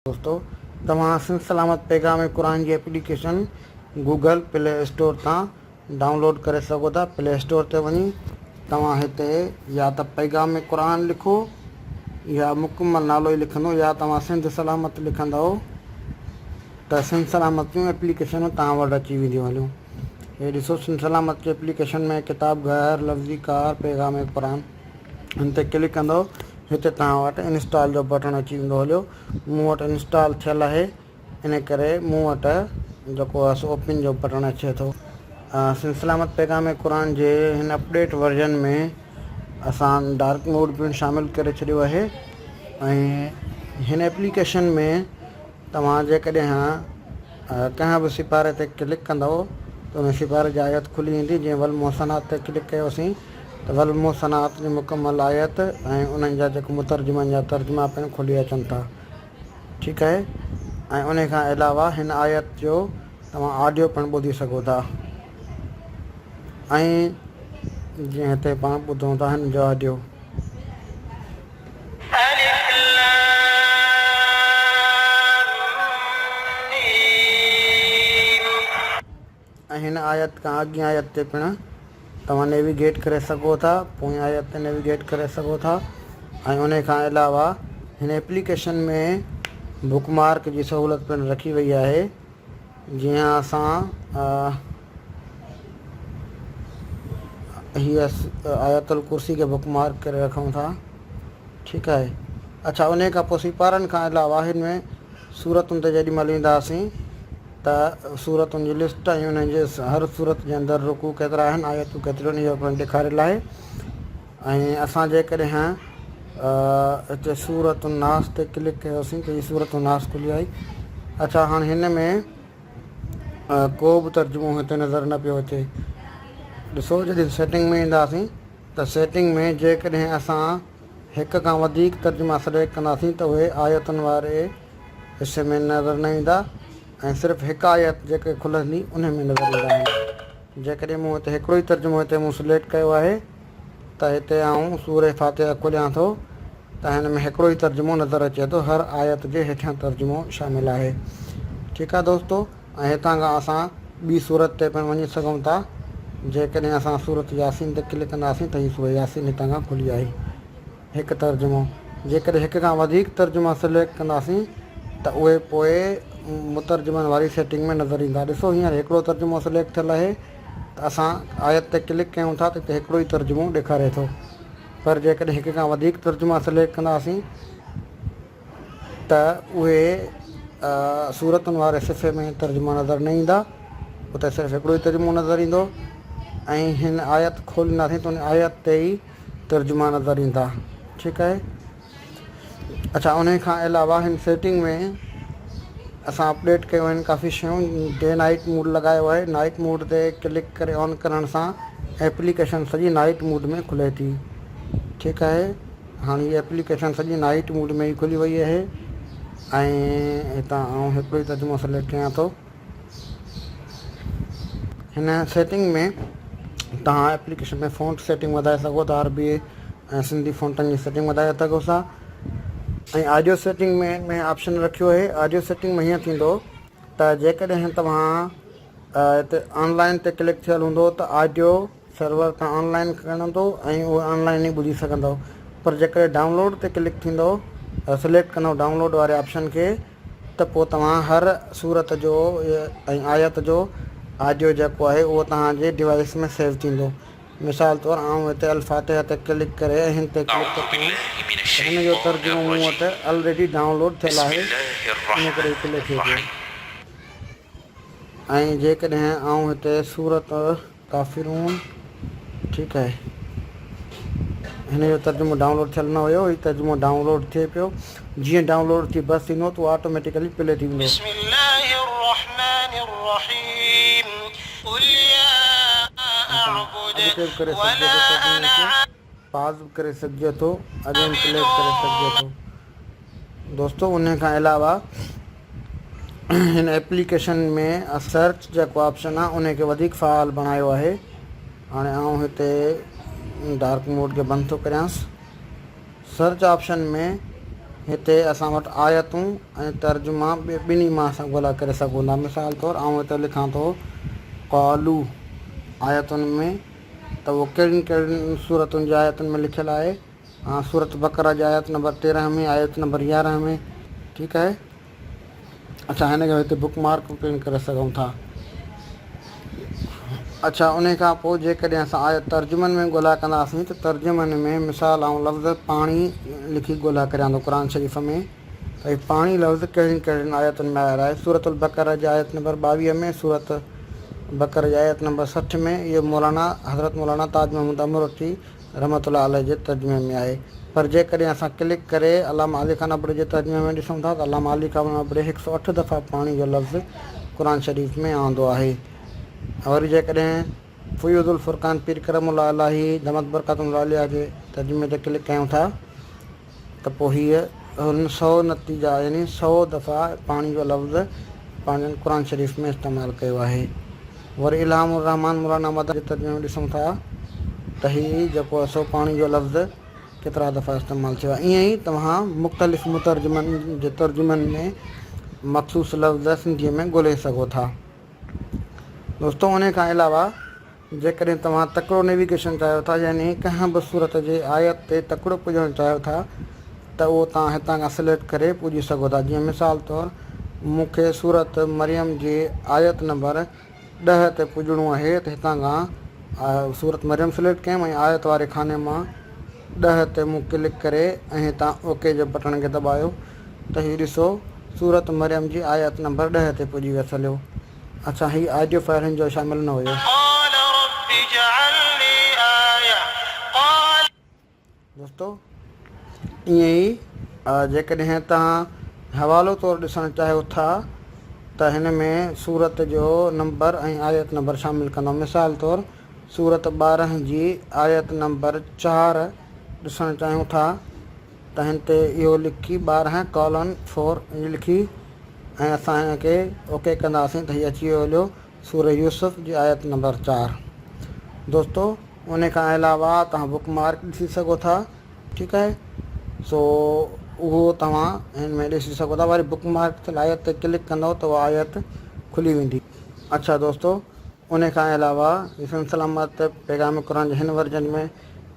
دوستو توهان سنڌ سلامت پيغام قرآن جي اپليڪيشن گوگل پلي اسٽور تان ڊائونلوڊ ڪري سگهو ٿا پلي اسٽور تي وڃي توهان هتي يا ته پيغام قرآن لکو يا مڪمل نالو ئي لکندو يا توهان سنڌ سلامت لکندؤ ته سنڌ سلامت جون اپليڪيشنون توهان وٽ اچي وينديون هليون هي ڏسو سنڌ سلامت جي اپليڪيشن ۾ ڪتاب گهر لفظي ڪار پيغام قرآن هن تي ڪلڪ ڪندو هتي توهان وٽ انسٽال جو بٽڻ اچي ويندو هليو مون وٽ انسٽال ٿيل آهي ان ڪري مون وٽ جيڪو آهي اوپن جو بٽڻ اچي ٿو سن سلامت پيغام قرآن جي هن اپڊيٽ ورجن ۾ اسان ڊارڪ موڊ پڻ شامل ڪري ڇڏيو آهي ۽ هن اپليڪيشن ۾ توهان جيڪڏهن ڪنهن به سپاري تي ڪلڪ ڪندؤ ته ان سپاري جي آيت کلي ويندي، جيئن والمحصنات تي ڪلڪ ڪيوسين ته والمحصنات جي مڪمل آيت ۽ انهن جا جيڪي مترجمن جا ترجما پڻ کلي اچن ٿا ٺيڪ اهي ۽ انهي کان علاوه هن آيت جو توهان آڊيو پڻ ٻڌي سگهو ٿا ۽ جيئن هتي پاڻ ٻڌون ٿا هن جو آڊيو. ۽ هن آيت کان اڳين آيت تي پڻ توهان نيويگيٽ ڪري سگهو ٿا پوئين آيت تي نيويگيٽ ڪري سگهو ٿا ۽ انهي کان علاوه هن ايپليڪيشن ۾ بڪ مارڪ جي سهولت پڻ رکي وئي آهي جنهن اسان هي آيت الڪرسي کي بڪ مارڪ ڪري رکون ٿا ٺيڪ آهي اڇا انهي کان پوء سيپارن کان علاوه هن ۾ صورتن تي جيڏي مهل وينداسين ته صورتن جي لسٽ ۽ انهن جي هر صورت جي اندر رڪوع ڪيترا آهن آيتون ڪيتريون اهو پڻ ڏيکاريل آهي ۽ اسان جيڪڏهن هتي صورت الناس تي ڪلڪ ڪيوسين ته هي صورت الناس کلي آئي اڇا هاڻ هن ۾ ڪو به ترجمو هتي نظر نه پيو اچي. ڏسو جڏهن سيٽنگ ۾ اينداسين ته سيٽنگ ۾ جيڪڏهن اسان هڪ کان وڌيڪ ترجما سليڪٽ ڪنداسين ته اهي آيتن واري حصي ۾ نظر نه ايندا ۽ صرف هڪ آيت جيڪي کلندي انهي ۾ نظر ايندا آهن جيڪڏهن مون هتي هڪڙو ئي ترجمو هتي مون سليڪٽ ڪيو آهي ته هتي آئون سورة فاتحه کوليان ٿو ته هن ۾ هڪڙو ئي ترجمو نظر اچي ٿو هر آيت جي هيٺيان ترجمو شامل آهي ٺيڪ آهي دوستو ۽ هتان کان اسان ٻي سورت تي پڻ وڃي سگهون ٿا جيڪڏهن اسان سورة ياسين تي ڪلڪ ڪنداسين ته هي سورة ياسين هتان کان کلي آئي هڪ ترجمو جيڪڏهن هڪ کان وڌيڪ ترجما سليڪٽ ڪنداسين ته اهي پوء مترجمن واري سيٽنگ ۾ نظر ايندا ڏسو هينئر هڪڙو ترجمو سليڪٽ ٿيل آهي ته اسان آيت تي ڪلڪ ڪيون ٿا ته اتي هڪڙو ئي ترجمو ڏيکاري ٿو پر جيڪڏهن هڪ کان وڌيڪ ترجما سليڪٽ ڪنداسين ته اهي سورتن واري صفحي ۾ ترجما نظر نه ايندا اتي صرف هڪڙو ئي ترجمو نظر ايندو ۽ هن آيت کولينداسين ته ان آيت تي ئي ترجما نظر ايندا ٺيڪ آهي. اچا انهي کان علاوه هن سيٽنگ ۾ اسان اپڊيٽ ڪيون آهن ڪافي شيون ڊي نائٽ موڊ لڳايو آهي نائٽ موڊ تي ڪلڪ ڪري آن ڪرڻ سان ايپليڪيشن سڄي نائٽ موڊ ۾ کلي ٿي ٺيڪ آهي هاڻي هي ايپليڪيشن سڄي نائٽ موڊ ۾ ئي کلي وئي آهي ۽ هتان آئون هڪڙو ئي ترجمو سليڪٽ ڪيان ٿو هن سيٽنگ ۾ توهان ايپليڪيشن ۾ فونٽ سيٽنگ وڌائي سگهو ٿا، عربي ۽ سنڌي فونٽن جي سيٽنگ وڌائي سگهو ٿا ۽ آڊيو سيٽنگ ۾ ۾ آپشن رکيو آهي، آڊيو سيٽنگ ۾ هيئن ٿيندو ته جيڪڏهن توهان هتي آن لائن تي ڪلڪ ٿيل هوندو ته آڊيو سرور تان آن لائن کڻندو ۽ اهو آن لائن ئي ٻڌي سگهندو پر جيڪڏهن ڊائونلوڊ تي ڪلڪ ٿيندو سليڪٽ ڪندو ڊائونلوڊ واري آپشن کي ته پوء توهان هر سورت جو ۽ آيت جو آڊيو جيڪو آهي اهو توهان جي ڊوائيس ۾ سيو ٿيندو. مثال طور آئون هتي الفاتحه تي ڪلڪ ڪري ۽ هن تي ڪلڪ ٿو ڪيان ته هن جو ترجمو مون وٽ الريڊي ڊائون لوڊ ٿيل آهي ان ڪري هي پلي ٿئي پيو. ۽ جيڪڏهن آئون هتي سورت. ڪافرون ٺيڪ آهي هن جو ترجمو ڊائونلوڊ ٿيل نه هيو هي ترجمو ڊائونلوڊ ٿئي پيو جيئن ڊائونلوڊ ٿي بس ٿيندو ته اهو آٽوميٽيڪلي پلي ٿي ويندو. بسم الله الرحمن الرحيم قل يا اعبد ولا انا عابد. پاز به ڪري سگهجي ٿو اڳيئي پلي به ڪري سگهجي ٿو. دوستو ان کان علاوه هن ايپليڪيشن ۾ سرچ جيڪو آپشن آهي ان کي وڌيڪ فعال بڻايو آهي هاڻي آئون هتي ڊارڪ موڊ کي بند ٿو ڪريانس سرچ آپشن ۾ هتي اسان وٽ آيتون ۽ ترجما ٻنهي مان اسان ڳولا ڪري سگهون ٿا مثال طور آئون هتي لکان ٿو قالو آيتن ۾ ته اهو ڪهڙين ڪهڙين صورتن جي آيتن ۾ لکيل آهي سورة بقره جي آيت نمبر تيرنهن ۾ آيت نمبر يارنهن ۾ ٺيڪ آهي اڇا هن کي هتي بڪ مارڪ به پڻ ڪري سگهون ٿا اڇا انهي کان پوء جيڪڏهن اسان آيت ترجمن ۾ ڳولها ڪنداسين ته ترجمن ۾ مثال آئون لفظ پاڻي لکي ڳولها ڪريان ٿو قرآن شريف ۾ ته هي پاڻي لفظ ڪهڙين ڪهڙين آيتن ۾ آيل آهي سورة البقره جي آيت نمبر ٻاويهه ۾ سورة بقره جي آيت نمبر سٺ ۾ اهو مولانا حضرت مولانا تاج محمود امروٽي رحمة الله عليه جي ترجمي ۾ آهي پر جيڪڏهن اسان ڪلڪ ڪري علامه علي خان ابڙي جي ترجمي ۾ ڏسون ٿا ته علامه علي خان ابڙي هڪ سؤ اٺ دفعا پاڻي جو لفظ قرآن شريف ۾ آندو آهي ۽ وري جيڪڏهن فيوض الفرقان پير ڪرم الله الاهي دمت برڪاتهم العاليه جي ترجمي تي ڪلڪ ڪيون ٿا ته پوء هيء هن سؤ نتيجا يعني سؤ دفعا پاڻي جو لفظ پنهنجن قرآن شريف ۾ استعمال ڪيو آهي. وري الھام الرحمان مولانا مدد جي ترجمي ۾ ڏسون ٿا ته هي جيڪو سو پاڻي جو لفظ ڪيترا دفعا استعمال ٿيو آهي. ائين ئي توهان مختلف مترجمن جي ترجمن ۾ مخصوص لفظ سنڌيء ۾ ڳولهي سگهو ٿا. دوستو انهيء کان علاوه. جيڪڏهن توهان تڪڙو نيويگيشن چاهيو ٿا يعني ڪنهن به صورت جي آيت تي تڪڙو پڄڻ چاهيو ٿا ته اهو توهان هتان کان سليڪٽ ڪري پڄي سگهو ٿا جيئن مثال طور مون کي سورت مريم جي آيت نمبر ڏهه تي پڄڻو اهي ته هتان کان سورت مريم سليڪٽ ڪيم ۽ آيت واري خاني مان ڏهه تي مون ڪلڪ ڪري ۽ هتان اوڪي جي بٽڻ کي دٻايو ته هي ڏسو سورت مريم جي آيت نمبر ڏهه تي پڄي ويس هليو اچا هي آڊيو فائل هن جو شامل نه هيو. قال رب اجعلني آيه قال. دوستو ائين ئي جيڪڏهن توهان حوالو طور ڏسڻ چاهيو ٿا ته هن ۾ سورت جو نمبر ۽ آيت نمبر شامل ڪندو مثال طور سورت ٻارهن جي آيت نمبر چار ڏسڻ چاهيون ٿا تنهن تي اهو لکي ٻارهن ڪالن فور اينڊ لکي ۽ اسان کي اوڪي ڪنداسين ته هي اچي ويو هليو سوره يوسف جي آيت نمبر چار دوستو انهي کان علاوه توهان بڪ مارڪ ڏسي سگهو ٿا ٺيڪ آهي سو اهو توهان هن ۾ ڏسي سگهو ٿا وري بڪ مارڪ ٿيل آيت تي ڪلڪ ڪندو ته اها آيت کلي ويندي اڇا دوستو انهي کان علاوه حسن سلامت پيغام قرآن جي هن ورجن ۾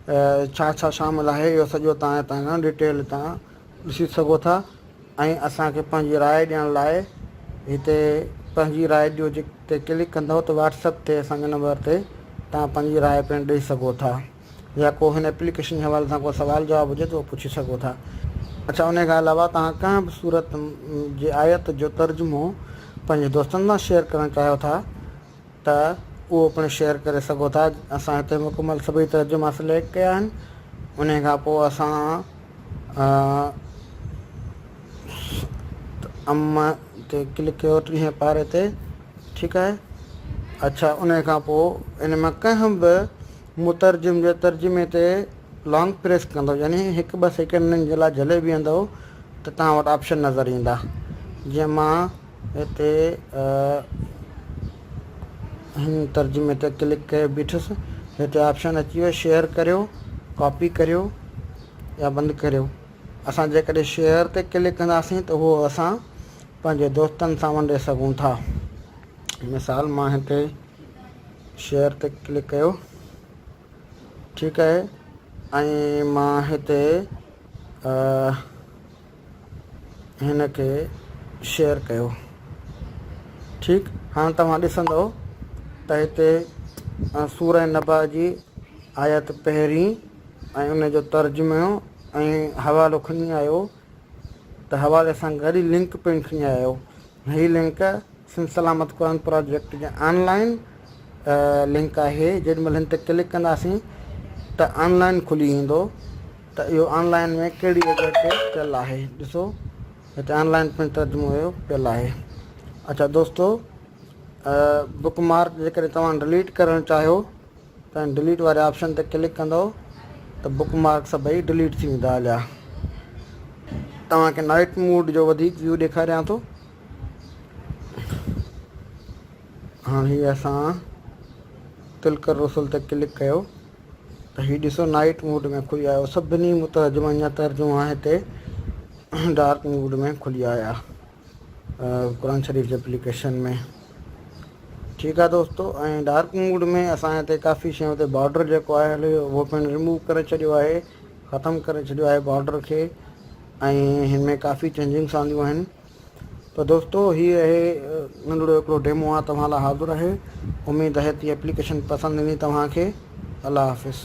ڇا ڇا شامل آهي اهو سڄو توهان هتان کان ڊٽيل هتان ڏسي سگهو ٿا ۽ اسان کي پنهنجي راء ڏيڻ لاء هتي پنهنجي راء ڏيو جي تي ڪلڪ ڪندو ته واٽسپ تي اسانجي نمبر تي توهان پنهنجي راء پڻ ڏئي سگهو ٿا يا ڪو هن اپليڪيشن جي حوالي سان ڪو سوال جواب هجي ته اهو پڇي سگهو ٿا اڇا ان کان علاوه توهان ڪنهن به صورت جي آيت جو ترجمو پنهنجي دوستن سان شيئر ڪرڻ چاهيو ٿا ته اهو پڻ شيئر ڪري سگهو ٿا اسان هتي مڪمل سڀئي ترجما سليڪٽ ڪيا آهن انهي کان پوء اسان ام تي ڪلڪ ڪيو ٽينهين پاري تي ٺيڪ آهي اڇا انهي کان پوء ان مان ڪنهن به مترجم جي ترجمي تي لانگ پريس ڪندو يعني هڪ ٻه سيڪنڊن جي لاء جهلي بيهندو ته توهان وٽ آپشن نظر ايندا جنهن مان هتي هن ترجمي تي ڪلڪ ڪيو بيٺس هتي آپشن اچي ويو شيئر ڪريو ڪاپي ڪريو يا بند ڪريو اسان جيڪڏهن شيئر تي ڪلڪ ڪنداسين ته اهو اسان پنهنجي دوستن سان ونڊي سگهون ٿا مثال مان هتي شيئر تي ڪلڪ ڪيو ٺيڪ آهي ۽ مان هتي هن کي شيئر ڪيو ٺيڪ هاڻ توهان ڏسندو ته هتي سوره نبا جي آيت پهرين ۽ ان جو ترجمو ۽ حوالو کڻي آيو ته حوالي سان گڏ لنڪ پڻ کڻي آيو هي لنڪ سنڌ سلامت قرآن پراجيڪٽ جي آن لائين لنڪ آهي جيڏي مهل هن تي ڪلڪ ڪنداسين ته آن لائين کلي ايندو ته اهو آن لائين ۾ ڪهڙي جڳهه تي پيل آهي ڏسو هتي آن لائين پڻ ترجمو هيو پيل آهي اچا دوستو بڪ مارڪ جيڪڏهن توهان ڊليٽ ڪرڻ چاهيو تان ڊليٽ واري آپشن تي ڪلڪ ڪندو ته بڪ مارڪ سڀئي ڊليٽ ٿي ويندا عليا توهان کي نائٽ موڊ جو وڌيڪ ويو ڏيکاريان ٿو هاڻ هي اسان تلڪ الرسل تي ڪلڪ ڪيو ته هي ڏسو نائٽ موڊ ۾ کلي آيو سڀني مترجمن جا ترجما هتي ڊارڪ موڊ ۾ کلي آيا قرآن شريف جي اپليڪيشن ۾ ٺيڪ آهي دوستو ۽ ڊارڪ موڊ ۾ اسان هتي ڪافي شيون تي بارڊر جيڪو آهي هلي اهو پڻ ريموو ڪري ڇڏيو آهي ختم ڪري ڇڏيو آهي بارڊر کي ۽ هن ۾ ڪافي چينجنگس آنديون آهن ته دوستو هي اهي ننڍڙو هڪڙو ڊيمو آهي توهان لاء حاضر آهي اميد آهي ته اپليڪيشن پسند ايندي توهان کي الله حافظ